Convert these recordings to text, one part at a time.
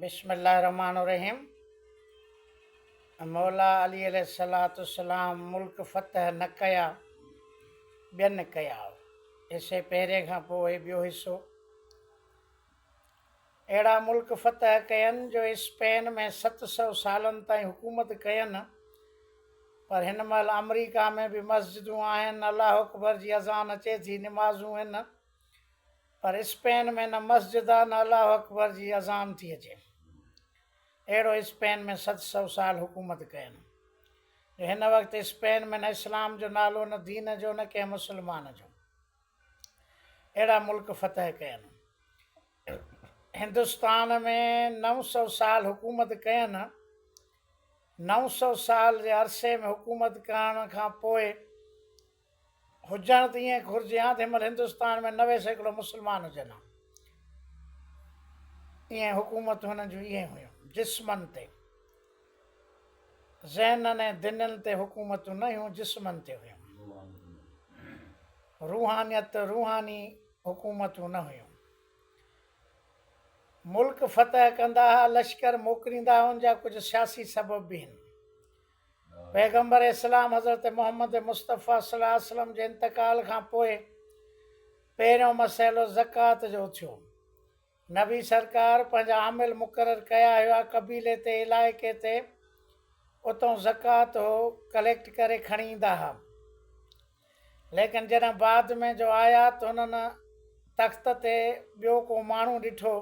بسم الله الرحمن الرحيم مولا علي عليه الصلات والسلام ملڪ فتح نه ڪيا ٻين ڪيا حصي پهرين کان پوء ٻيو حصو اهڙا ملڪ فتح ڪين جو اسپين ۾ ست سو سالن تائين حڪومت ڪين پر هن مهل آمريڪا ۾ به مسجدون آهن الله اڪبر جي اذان اچي ٿي نمازون هن پر اسپين ۾ نه مسجد آ نه الله اڪبر جي اذان ٿي اچي اهڙو اسپين ۾ ست سو سال حڪومت ڪين جو هن وقت اسپين ۾ نه اسلام جو نالو نه دين جو نه ڪنهن مسلمان جو اهڙا ملڪ فتح ڪين هندستان ۾ نو سو سال حڪومت ڪين نو سو سال جي عرصي ۾ حڪومت ڪرڻ کان پوء هجڻ ته ائين گهرجي ها ته هن مهل هندستان ۾ نوي سيڪڙو مسلمان هجن ها. ائين حڪومتون هنن جون ائين هيون. جسمن تي. ذهنن ۽ دنين تي حڪومتون نه هيون جسمن تي هيون. روحانيت روحاني حڪومتون نه هيون. ملڪ فتح ڪندا ها لشڪر موڪليندا ها ان جا ڪجهه سياسي سبب به هن. پيغمبر اسلام حضرت محمد مصطفيٰ صلي الله عليه وسلم جي انتقال کان پوء پهريون مسئلو زڪوات جو اٿيو. نبي سرڪار پنهنجا عامل مقرر ڪيا هيا قبيلي تي علائقي تي اتئون زڪوات هو ڪليڪٽ ڪري کڻي ايندا ها. ليڪن جڏهن بعد ۾ جو آيا ته هنن تخت تي ٻيو ڪو ماڻهو ڏٺو،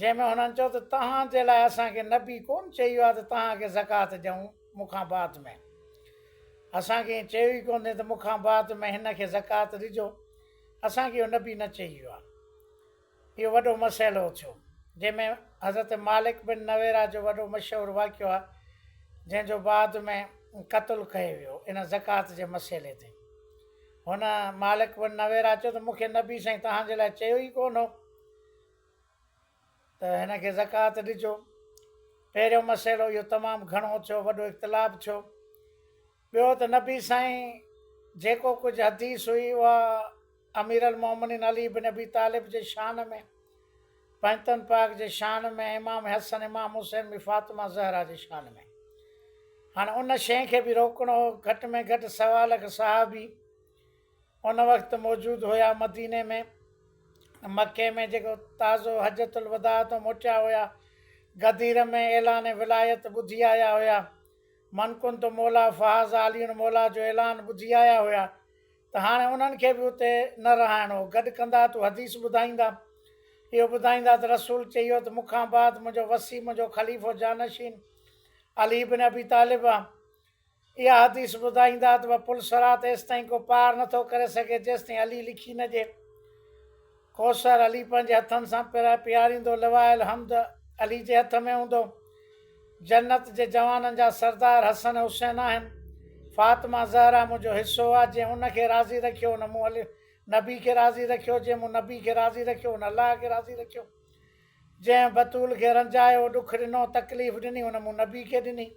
جنهن ۾ هنن چيو ته توهان جي لاء اسان کي نبي ڪونه چيو آهي ته توهان کي زڪوات ڏيون مون کان بعد ۾، اسان کي ائين چيو ئي ڪونهي ته مون کان بعد ۾ هن کي زڪوات ڏجو، اسان کي اهو نبي نه چيو آهي. اهو وڏو مسئلو اٿيو، جنهن ۾ حضرت مالڪ بن نويرا جو وڏو مشهور واقعو آهي، جنهن جو بعد ۾ قتل ڪيو ويو، ان زڪوات جي مسئلي تي. هن، مالڪ بن نويرا، چيو ته مون کي نبي سائين توهان جي لاء چيو ئي ڪونه هو ته هن کي زڪوات ڏجو. پهريون مسئلو اهو تمام گهڻو اٿيو، وڏو اختلاف ٿيو. ٻيو ته نبي سائين جيڪو ڪجهه حديث هئي اها اميرالمؤمنين علي بن ابي طالب جي شان ۾ پنجتن پاڪ جي شان ۾ امام حسن امام حسين ۾ فاطمه زهرا جي شان ۾ هاڻ ان شين کي به روڪڻو هو گهٽ ۾ گهٽ سوا لک صحابي ان وقت موجود هيا مديني ۾ مڪي ۾ جيڪو تازو حجت الوداع تو موٽيا هيا غدير ۾ اعلان ولايت ٻڌي آيا هيا من ڪنت مولا فحظ عاليڻ مولا جو اعلان ٻڌي آيا هيا ته هاڻي انهن کي به اتي نه رهائڻ هو. گڏ ڪندا تو حديث ٻڌائيندا. اهو ٻڌائيندا ته رسول چيو ته مون کان بعد منهنجو وصي منهنجو خليفو جانشين علي بن ابي طالب آ. اها حديث ٻڌائيندا ته پل صراط ايستائين ڪو پار نٿو ڪري سگهي جيستائين علي لکي نه ڏي. ڪوثر علي پنهنجي هٿن سان پرائي پياريندو لوايل حمد علي جي هٿ ۾ هوندو. جنت جي جوانن جا سردار حسن حسين آهن. فاطمه زهره منهنجو حصو آ، جنهن ان کي راضي رکيو ان مون الله نبي کي راضي رکيو، جنهن مون نبي کي راضي رکيو ان الله کي راضي رکيو، جنهن بتول کي رنجايو، ڏک ڏنو، تڪليف ڏني ان مون نبي کي ڏني،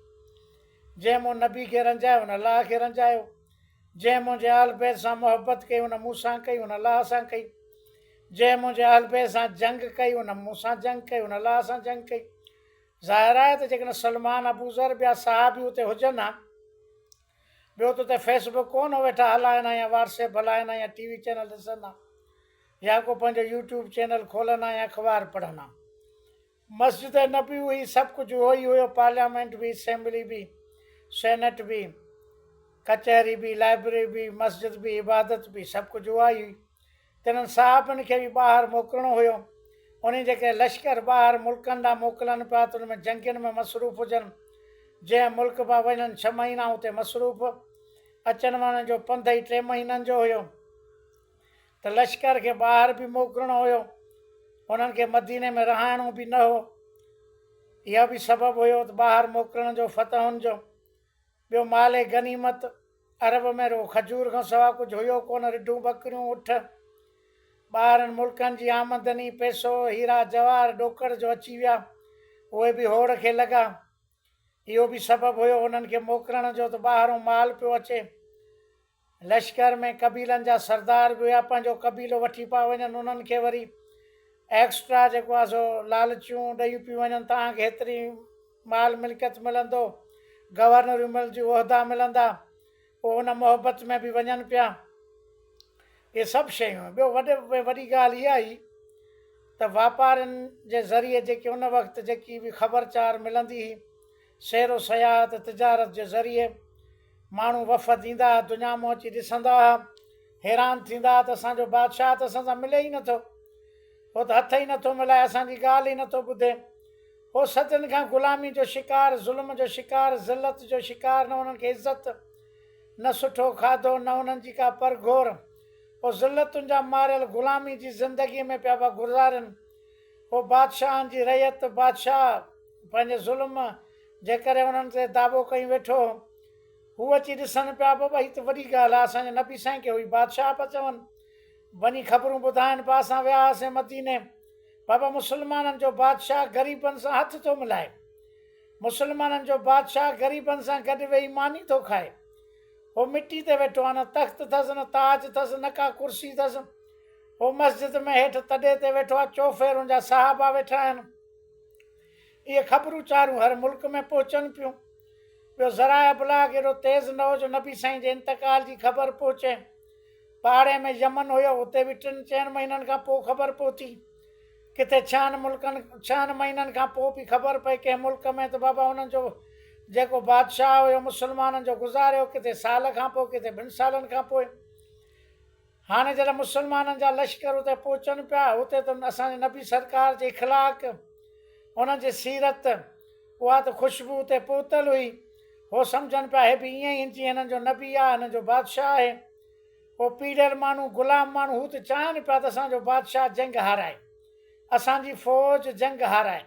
جنهن مون نبي کي رنجايو ان الله کي رنجايو. جنهن منهنجي اهل بيت سان محبت ڪئي ان مون سان ڪئي، ان الله سان ڪئي. جنهن منهنجي اهل بيت سان جنگ ڪئي ان مون سان جنگ ڪئي، ان الله سان جنگ ڪئي. ظاهر آهي ته جيڪڏهن سلمان، ابوذر، ٻيا صحابي اتي هجن ها، ٻيو ته اتي فيس بڪ ڪونه هو ويٺا هلائن ها يا واٽس ايپ هلائن ها يا ٽي وي چينل ڏسن ها يا ڪو پنهنجو يوٽيوب چينل کولن ها يا اخبار پڙهن ها. مسجد نبوي هئي، سڀ ڪجهه اهو ئي هيو، پارليامينٽ به، اسيمبلي به، سينيٽ به، ڪچهري به، لائبرري به، مسجد به، عبادت به، سڀ ڪجهه اها ئي هئي. تنهن صحابن کي به ٻاهر موڪلڻو هيو. انهي جيڪي لشڪر ٻاهر ملڪن ڏانهن موڪلن پيا ته ان ۾ جنگين ۾ مصروف هجن. جنهن ملڪ پيا وڃن ڇهه مهينا اتي مصروف. اچڻ وڃڻ جو پنڌ ئي ٽي مهينن جو هيو. ته لشڪر کي ٻاهر به موڪلڻو هيو، انهن کي مديني ۾ رهائڻو به نه هو. اهو به سبب هيو ته ٻاهر موڪلڻ جو فتحن جو. ٻيو مال غنيمت، عرب ۾ رڳو کجور کان سوا ڪجهه هيو ڪونه، رڍون، ٻڪريون، اٺ. ٻاهرن ملڪن جي آمدني، پئسو، هيرا جواهر ڏوڪڙ جو اچي ويا، اهي به هوڙ کي لڳا. اهو به سبب هيو انهن کي موڪلڻ جو ته ٻاهرون مال پيو اچي. لشڪر ۾ قبيلن جا سردار به هيا پنهنجو قبيلو وٺي پيا وڃن انهن کي وري ايڪسٽرا جيڪو آهي سو لالچون ڏيون پيون وڃن ته اوهان کي هيتري مال ملڪيت ملندو گورنريون ملنديون عهدا ملندا پوء ان محبت ۾ به وڃن پيا اهي سڀ شيون ٻيو وڏي ۾ وڏي ڳالهه اها هئي ته واپارين جي ذريعي جيڪي ان وقت جيڪي به خبرچار ملندي هئي سير و سياحت، تجارت جي ذريعي ماڻهو وفد ايندا ها، دنيا مون اچي ڏسندا ها، حيران ٿيندا ها ته اسان جو بادشاهه ته اسان سان ملي ئي نه ٿو. هو ته هٿ ئي نه ٿو ملائي، اسان جي ڳالهه ئي نه ٿو ٻڌي. هو صدين کان غلامي جو شڪار، ظلم جو شڪار، ذلت جو شڪار، نه انهن کي عزت، نه سٺو کاڌو، نه انهن جي ڪا پرگهور. هو ذلتن جا ماريل غلامي جي زندگيء ۾ پيا گذارين. هو بادشاهن جي رعيت، بادشاهه پنهنجي ظلم جي ڪري انهن تي دعوو ڪيون ويٺو هو اچي ڏسن پيا بابا هي ته وڏي ڳالهه آهي اسان جي نبي سائين کي هوئي بادشاهه پيا چون وڃي خبرون ٻڌائن پيا اسان ويا هئاسين مديني بابا مسلمانن جو بادشاهه غريبن سان هٿ ٿو ملائي مسلمانن جو بادشاهه غريبن سان گڏ ويهي ماني ٿو کائي هو مٽي تي ويٺو آهي نه تخت اٿس نه تاج اٿس نه ڪا ڪرسي اٿس هو مسجد ۾ هيٺ تڏي تي ويٺو آهي، چوڦيرون جا صحابه ويٺا آهن. اهي خبرون چارون هر ملڪ ۾ پهچن پيون. ٻيو ذرائع ابلاغ ايڏو تيز نه هو جو نبي سائين جي انتقال جي خبر پهچي. پاڙي ۾ يمن هيو، اتي به ٽن چئن مهينن کان پوء خبر پهتي. ڪٿي ڇهن ملڪن ڇهن مهينن کان پوء به خبر پئي. ڪنهن ملڪ ۾ ته بابا انهن جو جيڪو بادشاهه هيو مسلمانن جو گذاريو، ڪٿي سال کان پوء ڪٿي ٻن سالن کان پوء. هاڻي جڏهن مسلمانن جا لشڪر اتي پهچن پيا، اتي ته اسان جي نبي سرڪار جي اخلاق، انهن جي سيرت، اها ته خوشبو اتي پهتل هئي. هو سمجهن پيا هي به ائين ئي آهن جيئن هنن جو نبي آهي، هنن جو بادشاهه آهي. اهو پيڙهيل ماڻهو، غلام ماڻهو، هو ته چاهين پيا ته اسان جو بادشاهه جنگ هارائي، اسان جي فوج جنگ هارائي.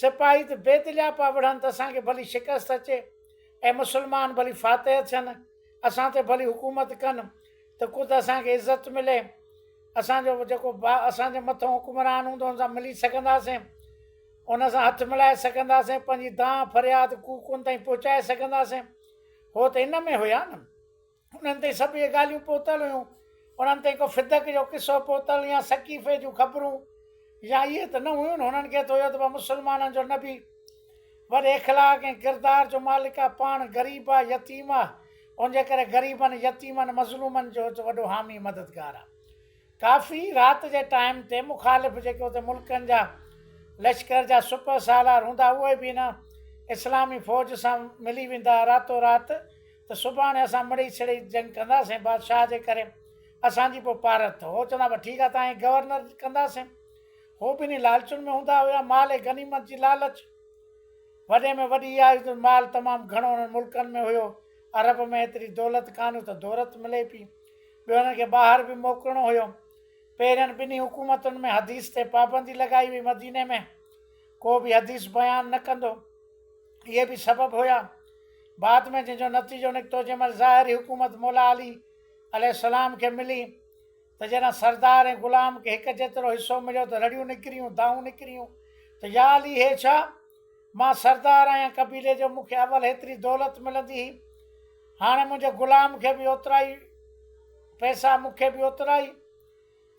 سپاهي ته بي دليا پيا وڙهن ته اسان کي ڀلي شڪست اچي ۽ مسلمان ڀلي فاتح ٿين، اسان تي ڀلي حڪومت ڪن. ته خود اسان کي عزت ملي، اسان جو جيڪو اسان جي مٿئون حڪمران هوندو ان سان ملي سگهنداسين، ان سان هٿ ملائي سگهنداسين، پنهنجي دانهن فرياد ڪوڪ ان تائين پهچائي سگهنداسين، هو ته ان ۾ هيا نه. انهن تائين سڀ اهي ڳالهيون پهتل هيون، انهن تائين ڪو فدڪ جو قصو پهتل يا سقيفي جون خبرون يا اهي ته نه هيون نه، انهن کي ته هيو ته مسلمانن جو نبي وڏي اخلاق ۽ ڪردار جو مالڪ آ، پاڻ غريب آ، يتيم آ، ان جي ڪري غريبن، يتيمن، مظلومن جو هت وڏو حامي مددگار آ. ڪافي رات جي ٽائيم تي مخالف جيڪي اتي ملڪن جا لشڪر جا سپه سالار هوندا اهي به هن اسلامي فوج سان ملي ويندا راتو رات ته سڀاڻي اسان مڙئي سڙئي جنگ ڪنداسين بادشاهه جي ڪري اسان جي پو پارت اٿو هو چوندا به ٺيڪ آ تان هي گورنر ڪنداسين هو به انهي لالچن ۾ هوندا هيا مال غنيمت جي لالچ وڏي ۾ وڏي اها هئي جو مال تمام گهڻو انهن ملڪن ۾ هيو. عرب ۾ ايتري دولت ڪانه هئي ته دورت ملي پئي. ٻيو انهن کي ٻاهر به موڪلڻو هيو. پهرين ٻنهي حڪومتن ۾ حديث تي پابندي لڳائي وئي. مديني ۾ ڪو به حديث بيان نه ڪندو. اهي به سبب هيا. بعد ۾ جنهن جو نتيجو نڪتو جنهن مهل ظاهري حڪومت مولا علي عليه السلام کي ملي. ته جڏهن سردار ۽ غلام کي هڪ جيترو حصو مليو ته رڙيون نڪريون، دانهون نڪريون ته يا علي هي ڇا؟ مان سردار آهيان قبيلي جو، مون کي اول هيتري دولت ملندي هئي، هاڻي منهنجي غلام کي به اوترا ئي پئسا، مون کي به اوترا ئي.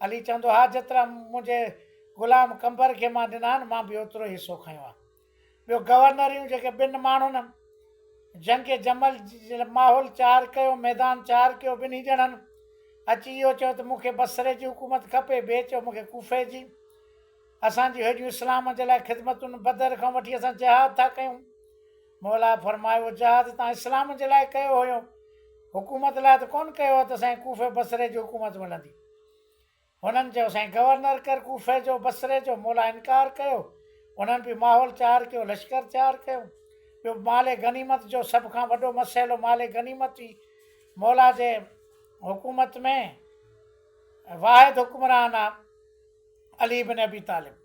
علي چوندو، ها جيترا منهنجي غلام قنبر کي مان ڏنا آهن، مان به اوترو ئي حصو کنيو آهي. ٻيو گورنريون جيڪي ٻن ماڻهن جنگ جمل جي ماحول چار ڪيو، ميدان چار ڪيو، ٻنهي ڄڻن اچي اهو چيو ته مون کي بصري جي حڪومت کپي، ٻئي چيو مون کي ڪوفي جي، اسان جون هيڏيون اسلام جي لاء خدمتون بدر کان وٺي اسان جهاد ٿا ڪيون. موليٰ فرمايو جهاد توهان اسلام جي لاء ڪيو هيو، حڪومت لاء ته ڪونه ڪيو هو ته سائين ڪوفي بصري جي حڪومت ملندي. هنن چيو سائين گورنر ڪر ڪوفي جو بصري جو مولا انڪار ڪيو انهن به ماحول تيار ڪيو لشڪر تيار ڪيو ٻيو مال غنيمت جو سڀ کان وڏو مسئلو مال غنيمت هئي مولا جي حڪومت ۾ واحد حڪمران آ علي بن ابي طالب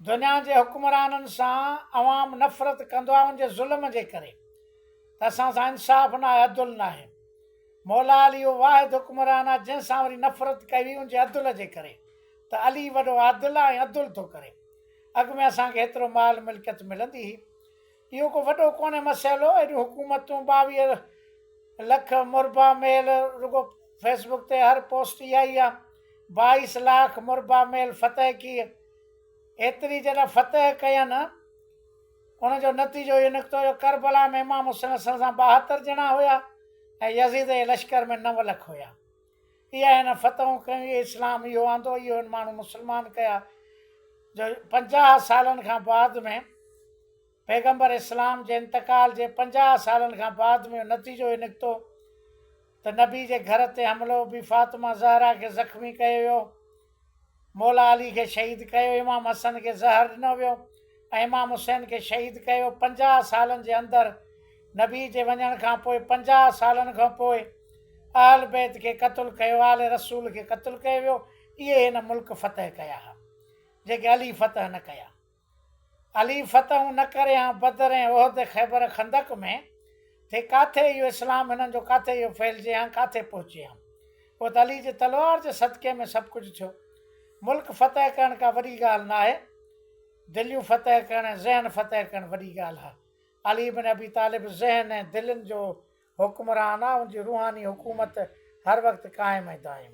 دنيا جي حڪمرانن سان عوام نفرت ڪندو آهي ان جي ظلم جي ڪري ته اسان سان انصاف ناهي عدل ناهي مولا علي اهو واحد حڪمران آهي جنهن سان وري نفرت ڪئي وئي ان جي عدل جي ڪري ته علي وڏو عادل آهي ۽ عدل ٿو ڪري اڳ ۾ اسان کي هيترو مال ملڪيت ملندي هئي اهو ڪو وڏو ڪونهي مسئلو، ايڏيون حڪومتون ٻاويهه لک مربع ميل رڳو فيس بڪ تي هر پوسٽ اها ئي آهي بائيس لاک مربع ميل فتح ڪيئي ايتري جڏهن فتح ڪين ان جو نتيجو اهو نڪتو جو ڪربلا ۾ امام حسين سان ٻاهتر ڄڻا هيا ۽ يزيد جي لشڪر ۾ نو لک هيا. اهي هن فتحون ڪيون، اهي اسلام اهو آندو، اهي هن ماڻهو مسلمان ڪيا، جو پنجاهه سالن کان بعد ۾ پيغمبر اسلام جي انتقال جي پنجاهه سالن کان بعد ۾ نتيجو هي نڪتو ته نبي جي گهر تي حملو بي فاطمه زهرا کي زخمي ڪيو ويو. مولا علي کي شهيد ڪيو، امام حسن کي زهر ڏنو ويو ۽ امام حسين کي شهيد ڪيو. پنجاهه سالن جي اندر، نبي جي وڃڻ کان پوء پنجاهه سالن کان پوء اهل بيت کي قتل ڪيو، آل رسول کي قتل ڪيو ويو، اهي هن ملڪ فتح ڪيا ها، جيڪي علي فتح نه ڪيا. علي فتحون نه ڪريان بدر ۽ احد خيبر خندق ۾ ٿي ڪاٿي اهو اسلام هنن جو ڪاٿي اهو ڦهلجي هان ڪاٿي پهچي هان اهو ته علي جي تلوار جي صدقي ۾ سڀ ڪجهه ٿيو ملڪ فتح ڪرڻ ڪا وڏي ڳالهه نه آهي دليون فتح ڪرڻ ۽ ذهن فتح ڪرڻ وڏي ڳالهه آهي علي بن ابي طالب ذهن ۽ دلين جو حڪمران آهي ان جي روحاني حڪومت هر وقت قائم ۽ دائم